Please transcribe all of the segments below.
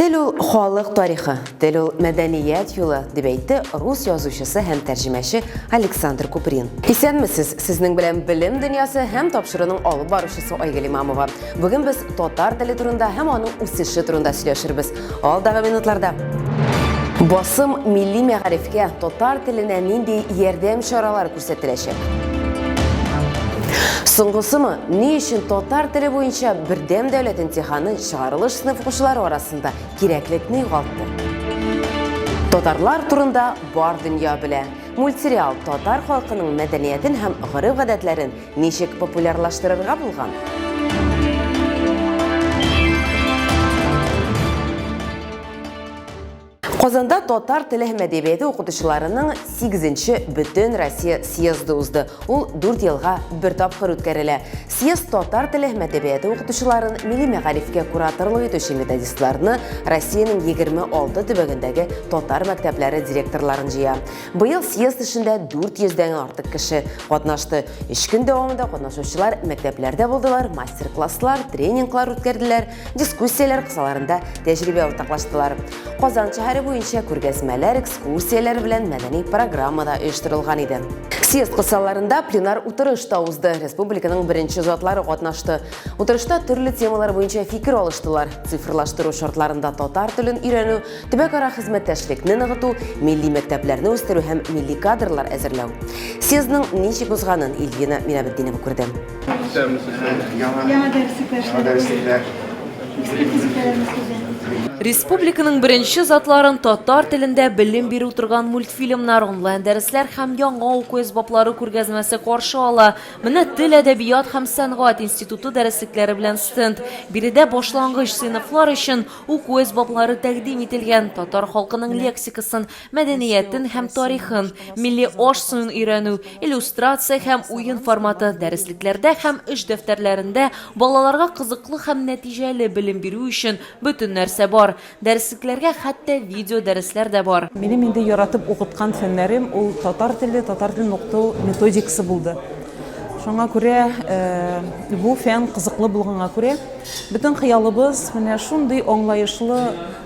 Тел ул халык тарихы, тел ул мәдәният юлы, дип әйтте рус язучысы һәм тәрҗемәче Александр Куприн. Исәнмесез, сезнең белән белем дөньясы һәм тапшыруның алып баручысы Айгөл Имамова. Бүген без татар теле турында һәм аның үсеше турында сөйләшербез. Алдагы минутларда. Басым милли мәгарифкә, татар теленә нинди ярдәм чаралар күрсәтеләчәк. Соңгысымы, ни өчен татар теле буенча бердәм дәүләт имтиханы чыгарылыш сыйныф укучылары арасында кирәклекне югалтты? Татарлар турында бар дөнья белә. Мультсериал татар халкының мәдәниятен һәм гореф-гадәтләрен ничек популярлаштырырга булган? Казанда татар теле һәм әдәбияты укытучыларының 8-нче бөтен Россия съезды узды. Ул 4 елга бер тапкыр үткәрелә. Съезд татар теле һәм әдәбияты укытучыларын, милли мәгарифкә кураторлык итүче методистларны, Россиянең 26 төбәгендәге татар мәктәпләре директорларын җыя. Быел съезд эшендә 400 дән артык кеше катнашты. 3 көн дәвамында катнашучылар мәктәпләрдә булдылар, мастер-класслар, тренинглар үткәрделәр, дискуссияләр кысаларында тәҗрибә уртаклаштылар. Казан шәһәре буенча күргәзмәләр, экскурсияләр белән мәдәни программа да оештырылган иде. Съезд кысаларында пленар утырыш та узды. Республиканың беренче затлары катнашты. Утырышта төрле темалар буенча фикер алыштылар. Цифрлаштыру шартларында татар телен өйрәнү, төбәкара хезмәттәшлекне ныгыту, милли мәктәпләрне үстерү һәм милли кадрлар әзерләү. Съездның ничек узганын Ильвина Минабетдинова күрде. Республиканың беренче затларын татар телендә белем бирү торган мультфильмнар, онлайн дәресләр һәм яңа уку әсбаплары күргәзмәсе каршы ала. Менә тел, әдәбият һәм сәнгать институты дәреслекләре белән стенд. Биредә башлангыч сыйныфлар өчен уку әсбаплары тәкъдим ителгән, татар халкының лексикасын мәдәниятен һәм тарихын, милли аш-суын өйрәнү, иллюстрация һәм уен форматы дәреслекләрдә һәм эш дәфтәрләрендә балаларга кызыклы һәм нәтиҗәле белем бирү өчен бөтен нәрсә бар. Дәреслекләргә хәтта видеодәресләр дә бар. Минем инде яратып укыткан фәннәрем ул татар теле, татар телен укыту методикасы булды. Шуңа күрә бу фән кызыклы булганга күрә, бөтен хыялыбыз менә шундый аңлаешлы,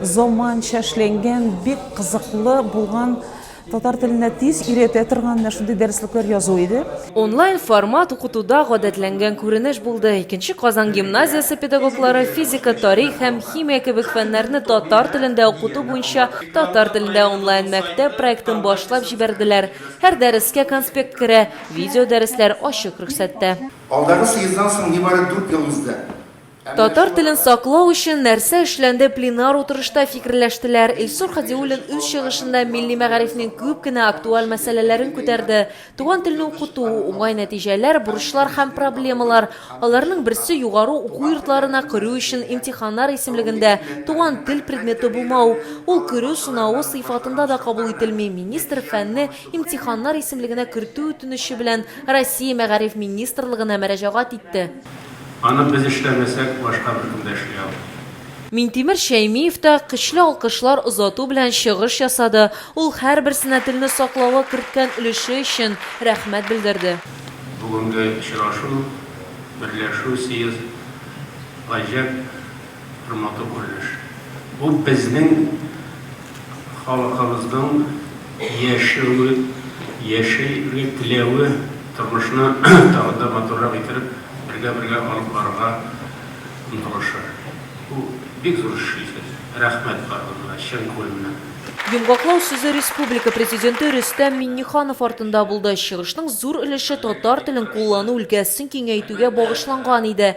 Заманча эшләнгән, бик кызыклы булган, татар теленә тиз өйрәтә торган менә шундый дәреслекләр язу иде. Онлайн формат укытуда гадәтләнгән күренеш булды. Икенче Казан гимназиясе педагоглары физика, тарих һәм химия кебек фәннәрне татар телендә укыту буенча татар телендә онлайн мәктәп проектын башлап җибәрделәр. Һәр дәрескә конспект керә, видеодәресләр ачык рөхсәттә. Алдагы съездан соң нибары дүрт ел узды. Татар телен саклау өчен нәрсә эшләнде пленар утырышта фикерләштеләр. Илсур Хадиуллин үз чыгышында милли мәгарифнең күп кенә актуаль мәсьәләләрен күтәрде. Туган телне укыту, уңай нәтиҗәләр, бурычлар һәм проблемалар. Аларның берсе югары уку йортларына керү өчен имтиханнар исемлегендә туган тел предметы булмау. Ул керү сынавы сыйфатында да кабул ителми. Министр фәнне имтиханнар исемлегенә кертү үтенече белән Россия Мәгариф министрлыгына мәрәҗәгать итте. Аны без эшләмәсәк, башка беркем дә эшли алмый. Минтимер Шәймиев та көчле алкышлар озату белән чыгыш ясады, ул һәрберсенә телне саклауга керткән өлеше өчен рәхмәт белдерде. Бүгенге очрашу, берләшү, съезд гаҗәп. Бер матур күренеш. Бу безнең халыкыбызның яшәүе, яшәргә теләве, тормышны тагы да матуррак иттереп, бергә-бергә алып барырга омтылышы. Бу бик зур эш шикелле. Рәхмәт барыгызга чын күңелемнән. Йомгаклау сүзе республика Президенты Рөстәм Миңнеханов артында булды. Чыгышның зур өлеше татар телен куллану өлкәсен киңәйтүгә багышланган иде.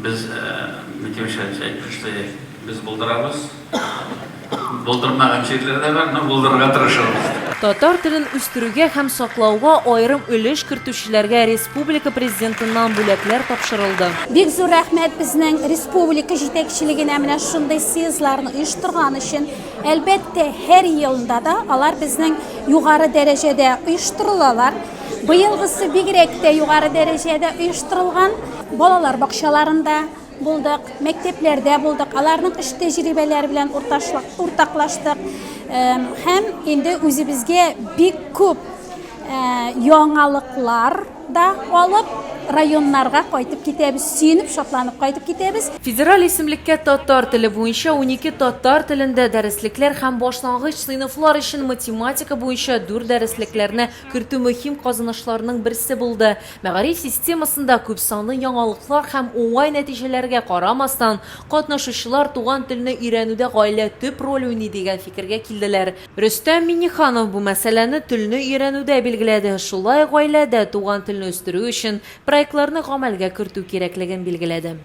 Без Митюша әйтте, что без булдырабыз. Булдырмаган җирләр дә бар, но булдырырга тырышабыз. Татар телен үстерүгә һәм саклауга аерым өлеш кертүчеләргә республика Президентыннан бүләкләр тапшырылды. Бик зур рәхмәт безнең республика җитәкчелегенә менә шундый съездларны оештырган өчен. Әлбәттә, һәр елында да алар безнең югары дәрәҗәдә оештырылалар. Быелгысы бигрәк тә югары дәрәҗәдә оештырылган. Балалар бакчаларында булдык, мәктәпләрдә булдык, аларның эш тәҗрибәләре белән уртаклаштык. Һәм инде үзебезгә бик күп яңалыклар да алып, районнарга кайтып китәбез, сөенеп, шатланып кайтып китәбез. Федераль исемлеккә татар теле буенча унике татар телендә дәреслекләр һәм башлангыч сыйныфлар өчен математика буенча дүрт дәреслекләрне кертү мөһим казанышларның берсе булды. Мәгариф системасында күпсанлы яңалыклар һәм уңай нәтиҗәләргә карамастан, катнашучылар туган телне өйрәнүдә гаилә төп роль уйный дигән фикергә килделәр. Рөстәм Миңнеханов бу мәсьәләне телне өйрәнүдә билгеләде, шулай ук гаиләдә туган телне үстерү өчен проектларны гамәлгә кертү кирәклеген билгеләде.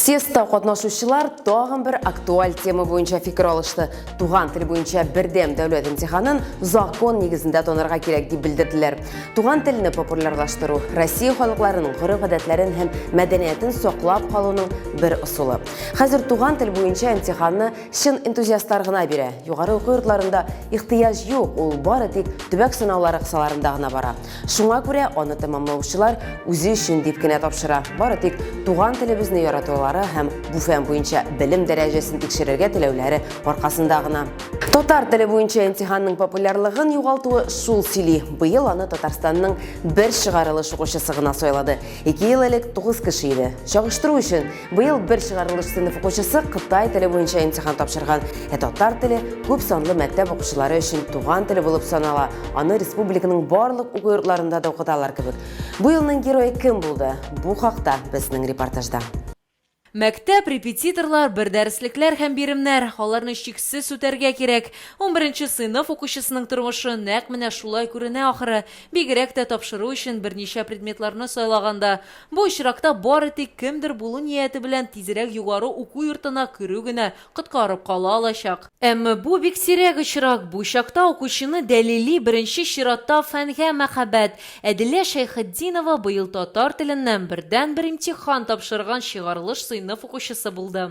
Съездта катнашучылар тагын бер актуаль тема буенча фикер алышты. Туган тел буенча бердәм дәүләт имтиханын закон нигезендә танырга кирәк дип белдерделәр. Туган телне популярлаштыру Россия халыкларының гореф-гадәтләрен һәм мәдәниятен саклап калуның бер ысулы. Хәзер туган тел буенча имтиханны чын энтузиастлар гына бирә. Югары уку йортларында ихтыяҗ юк, ул бары тик төбәк сынаулары кысаларында гына бара. Шуңа күрә аны тәмамлаучылар үзе өчен дип кенә тапшыра. Бары тик туган телебезне яратулары һәм бу фән буенча белем дәрәҗәсен тикшерергә теләүләре аркасында гына. Татар теле буенча имтиханның популярлыгын югалтуы шул сөйли. Быел аны Татарстанның бер чыгарылыш укучысы гына сайлады. Ике ел элек тугыз кеше иде. Чагыштыру өчен, Быел бер чыгарылыш сыйныф укучысы Кытай теле буенча имтихан тапшырган. Ә татар теле күп санлы мәктәп укучылары өчен туган теле булып санала. Аны республиканың барлык уку йортларында да укыталар кебек. Бу елның герое кем булды? Бу хакта безнең репортажда. Мәктәп, репетиторлар, бер дәреслекләр һәм биремнәр, аларны чиксез үтәргә кирәк. Унберенче сыйныф укучысының тормышы нәкъ менә шулай күренә ахры, бигрәк тә тапшыру өчен берничә предметларны сайлаганда. Бу очракта бары тик кемдер булу нияте белән тизрәк югары уку йортына керү генә коткарып кала алачак. Әмма бу бик сирәк очрак, бу чакта укучыны дәлили беренче чиратта фәнгә мәхәббәт. Әдилә Шәйхетдинова быел татар теленнән бердәнбер имтихан тапшырган чыгарылыш сыйныф укучысы булды.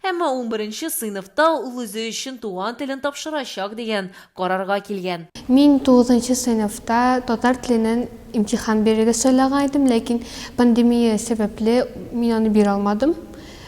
Әмма унберенче сыйныфта ул үзе өчен туган телен тапшырачак дигән карарга килгән. Мин тугызынчы сыйныфта татар теленнән имтихан бирергә сайлаган идем, ләкин пандемия сәбәпле, мин аны бирә алмадым.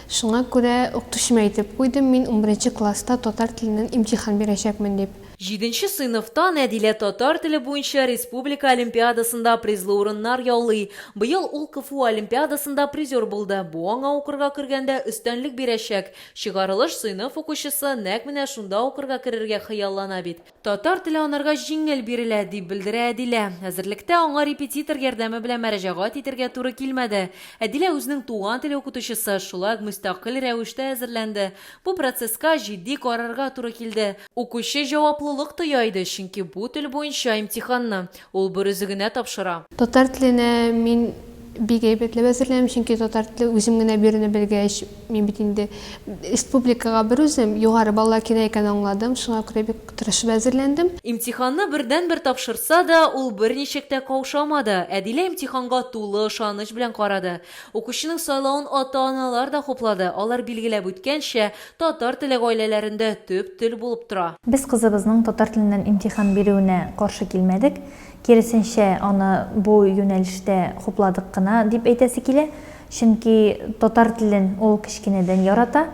Шуңа күрә укытучыма әйтеп куйдым, мин унберенче класста татар теленнән имтихан бирәчәкмен дип. Җиденче сыйныфта Нәдилә татар теле буенча республика олимпиадасында призлы урыннар яулый. Быел ул КФУ олимпиадасында призер булды. Бу аңа укырга кергәндә өстәнлек бирәчәк. Чыгарылыш сыйныф укучысы нәкъ менә шунда укырга керергә хыяллана бит. Татар теле анарга җиңел бирелә, дип белдерә Әдилә. Әзерлектә аңа репетитор ярдәме белән мәрәҗәгать итәргә туры килмәде. Әдилә үзенең туган теле укытучысы, шулай ук мөстәкыйль рәвештә әзерләнде. Бу процесска җитди карарга туры килде. Укучы җаваплылык тоя иде, чөнки бу тел буенча имтиханны ул берүзе генә тапшыра. Татар теленә мин бик әйбәтләп әзерләнәм, чөнки татар теле үзем генә бирүне белгәч, мин бит инде республикага берүзем, югары баллар кирәк икәнен аңладым, шуңа күрә бик тырышып әзерләндем. Имтиханны бердәнбер тапшырса да, ул берничек тә каушамады, Әдилә имтиханга тулы ышаныч белән карады. Укучының сайлавын ата-аналар да хуплады, алар билгеләп үткәнчә, Татар теле гаиләләрендә төп тел булып тора. Без кызыбызның татар теленнән имтихан бирүенә каршы килмәдек, киресенчә, аны бу юнәлештә хупладык кына, дип әйтәсе килә. Чөнки татар телен ул кечкенәдән ярата.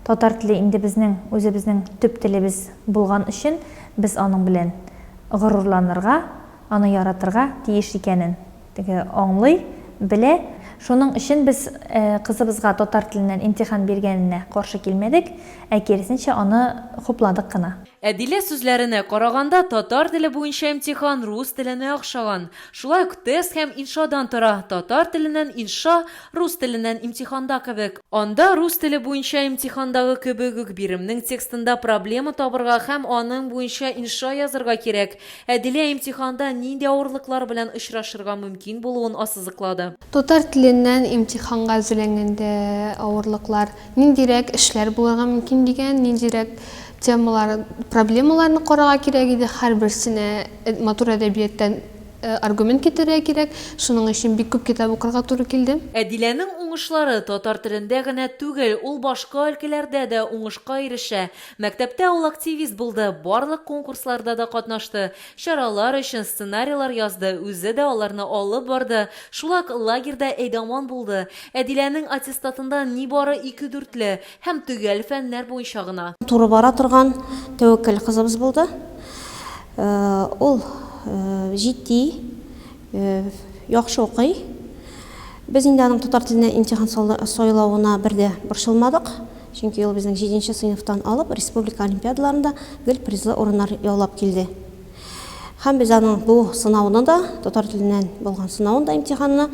Татар теле инде безнең үзебезнең төп телебез булган өчен без аның белән горурланырга, аны яратырга тиеш икәнен, Теге аңлый, белә. Шуның өчен без кызыбызга татар теленнән имтихан биргәненә каршы килмәдек, ә киресенчә, аны хупладык кына. Әдилә сүзләренә караганда, татар теле буенча имтихан рус теленә охшаган. Шулай ук тест һәм иншадан тора, татар теленнән инша, рус теленнән имтиханда кебек. Анда рус теле буенча имтихандагы кебек үк биремнең текстында проблема табырга һәм аның буенча инша язырга кирәк. Әдилә имтиханда нинди авырлыклар белән очрашырга мөмкин булуын ассызыклады. Татар теленнән имтиханга әзерләнгәндә авырлыклар ниндирәк эшләр булырга мөмкин дигән, ниндирәк темалар, проблемаларны карарга кирәк иде, һәрберсенә матур әдәбияттән аргумент китерергә кирәк, шуның өчен бик күп китап укырга туры килде. Әдиләнең уңышлары татар телендә генә түгел, ул башка өлкәләрдә дә уңышка ирешә. Мәктәптә ул активист булды, барлык конкурсларда да катнашты, чаралар өчен сценарийлар язды, үзе дә аларны алып барды, шулак лагерьда әйдаман булды. Әдиләнең аттестатында нибары ике дүртле һәм төгәл фәннәр буенча гына. Туры бара торган тәвәккәл кызыбыз булды. Ул җитди. Яхшы укый. Без инде аның татар теленә имтихан сайлавына бер дә борчылмадык, чөнки ул безнең җиденче сыйныфтан алып республика олимпиадаларында гел призлы урыннар яулап килде. Һәм без аның бу сынауны да, татар теленнән булган сынавын да, имтиханны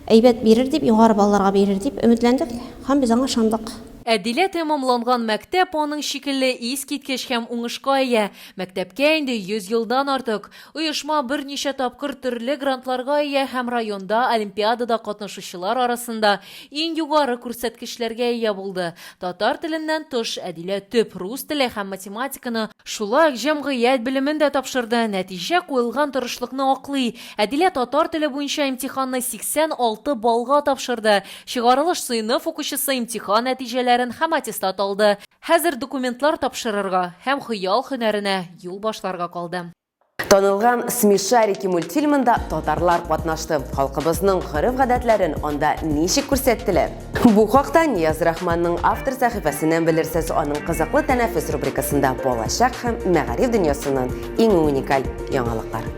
әйбәт бирер дип, югары балларга бирер дип өметләндек һәм без аңа ышандык. Ә Дилә тәмамланган мәктәп аның шикелле искиткеч һәм уңышка ия. Мәктәпкә инде 100 елдан артык. Оешма берничә тапкыр төрле грантларга ия һәм районда олимпиадада катнашучылар арасында иң югары күрсәткечләргә ия булды. Татар теленнән тыш, Әдилә төп рус теле һәм математиканы, шулай ук җәмгыять белемен дә тапшырды, нәтиҗә куелган тырышлыкны аклый, Әдилә татар теле буенча имтиханны 86 баллга тапшырды, чыгарылыш сыйныф укучысы имтихан нәтиҗәләрен һәм аттестат алды, Хәзер документлар тапшырырга һәм хыял һөнәренә юл башларга калды. Танылган Смешарики мультфильмында татарлар катнашты. Халкыбызның гореф-гадәтләрен анда ничек күрсәттеләр? Бу хакта Нияз Рахманның автор сәхифәсеннән белерсез, аның Кызыклы тәнәфес рубрикасында балачак һәм мәгариф дөньясыннан иң уникаль яңалыклар.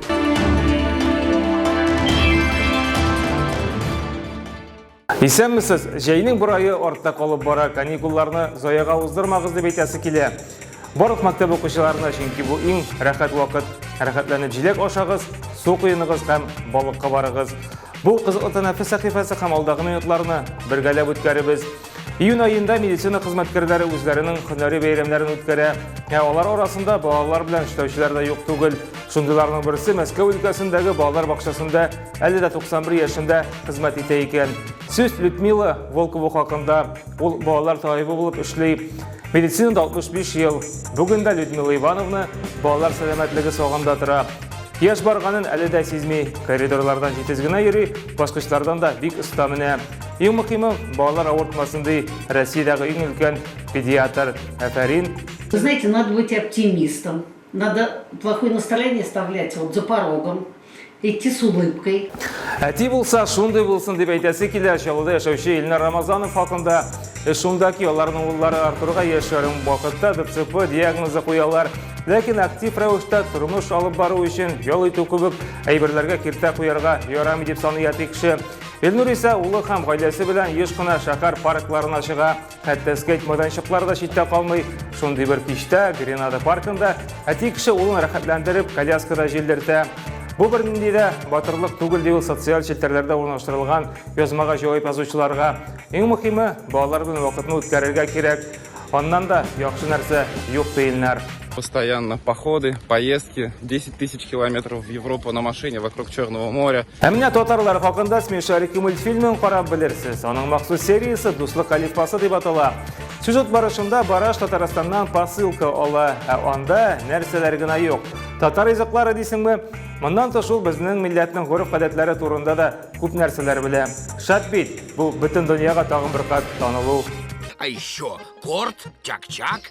Исәнмесез! Җәйнең бер айы артта калып бара, каникулларны заяга уздырмагыз дип әйтәсе килә. Барлык мәктәп укучыларына, чөнки бу иң рәхәт вакыт. Рәхәтләнеп җиләк ашагыз, су коеныгыз һәм балыкка барыгыз. Бу кызыклы тәнәфес сәхифәсе һәм алдагы минутларны бергәләп үткәребез. Июнь аенда медицина хезмәткәрләре үзләренең һөнәри бәйрәмнәрен үткәрә. Ә алар арасында балалар белән эшләүчеләр дә юк түгел. Шундыйларның берсе Мәскәү өлкәсендәге балалар бакчасында Әле дә 91 яшендә хезмәт итә икән. Сүз Людмила Волкова хакында. Ул балалар табибы булып эшли. Медицинада 65 ел. Бүген дә Людмила Ивановна балалар сәламәтлеге сагында тора. Яшь барганын әле дә сизми. Коридорлардан җитез генә йөри, баскычлардан да бик оста менә. Иң мөһиме, балалар авыртмасын ди Россиядәге иң өлкән педиатр. Афәрин! Знаете, надо быть оптимистом, надо плохое настроение оставлять вот за порогом, Идти с улыбкой. Әти булса, шундый булсын дип әйтәсе килә. Чаллыда яшәүче Илнар Рамазанов хакында шундагы аларның уллары Артурга яшь ярым вакытта ДЦП диагнозы куялар. Ләкин актив рәвештә тормыш алып бару өчен ял итү кебек әйберләргә киртә куярга ярамый дип саный әти кеше. Илнур исә улы һәм гаиләсе белән еш кына шәһәр паркларына чыга. Хәтта скейт майданчыклары да читтә калмый. Шундый бер кичтә Гренада паркында әти кеше улын рәхәтләндереп коляскада җилдертә. Бу бер нинди дә батырлык түгел ди ул социаль челтәрләрдә урнаштырылган язмага җавап язучыларга. Иң мөһиме, балалар белән вакытны үткәрергә кирәк. Аннан да яхшы нәрсә юк диеннәр. Постоянно походы, поездки, 10 тысяч километров в Европу на машине вокруг Черного моря. Ә менә татарлар хакында смешарики мультфильмын карап белерсез. Аның махсус сериясе Дуслык алифбасы дип атала. Сюжет барышында Бараш Татарстаннан посылка ала, ә анда нәрсәләр генә юк. Татар языклары дисеңме? Моннан тыш ул безнең милләтнең гореф-гадәтләре турында да күп нәрсәләр белә. Шат бит, бу бөтен дөньяга тагын бер кат танылу А еще корт, чак-чак,